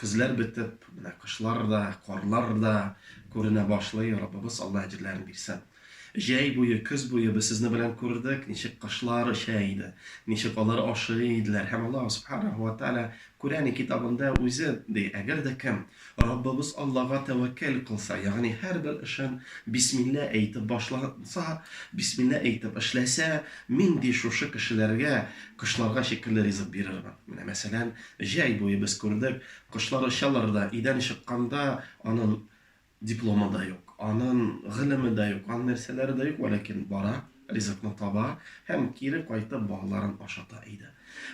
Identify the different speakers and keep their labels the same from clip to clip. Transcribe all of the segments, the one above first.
Speaker 1: Көзләр бетеп, менә кышлар да, карлар да күренә башлый, Раббыбыз Алла әҗерләрен бирсен. Җәй буе, көз буе без сезне белән күрдек, ничек кошлар оча иде, ничек алар ашый иделәр. Һәм Аллаһ Субханаһу ва Тәгалә Күрәни китабында үзе ди, Әгәр дә кем Раббыбыз Аллага тәвәккәл кылса, ягъни һәрбер эшен бисмилла әйтеп башласа, бисмилла әйтеп эшләсә, Мин, ди, шушы кешеләргә кошларга шикелле ризык бирермен. Менә мәсәлән, Җәй буе без күрдек, кошлар очалар да, өйдән чыкканда анын дипломы да юк, анын гылеме да юк, анын нәрсәләре дә юк, вәләкин бара, ризыкны таба һәм кире кайтып балаларын ашата иде.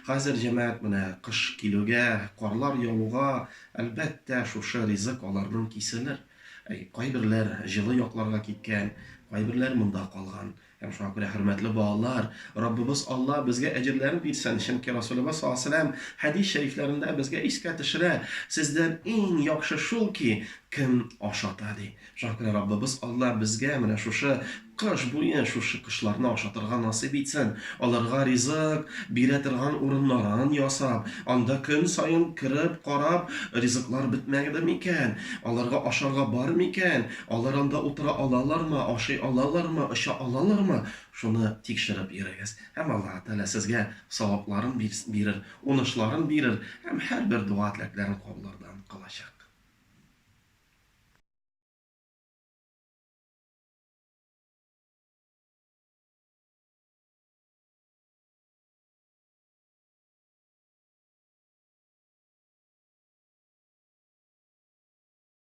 Speaker 1: Хәзер җәмәгать менә кыш килүгә, карлар явуга, әлбәттә, шушы ризык аларнын киселер. Әй, кайберләр җылы якларга киткән, кайберләр монда калган. Һәм шуңа күрә, хөрмәтле балалар, Раббыбыз Алла безгә әҗерләрен бирсен, чөнки Расулебыз саллаллаһу алейһи ва сәлләм хәдис шәрифләрендә безгә искә төшерә, Сездән иң яхшы шул ки, кем ашата, ди. Шуңа күрә Раббыбыз Алла безгә менә шушы кыш буе шушы кошларны ашатырга насыйп итсен, аларга ризык бирә торган урыннарын ясап, анда көн саен кереп карап, ризыклар бетмәгедер микән, аларга ашарга бар микән, Алар анда утыра алалармы, ашый алалармы, оча алалармы, шуны тикшереп йөрегез. Һәм Аллаһы Тәгалә сезгә савапларын бирс бирер, унышларын бирер һәм һәрбер дога-теләкләрен кабуллардан кылачак.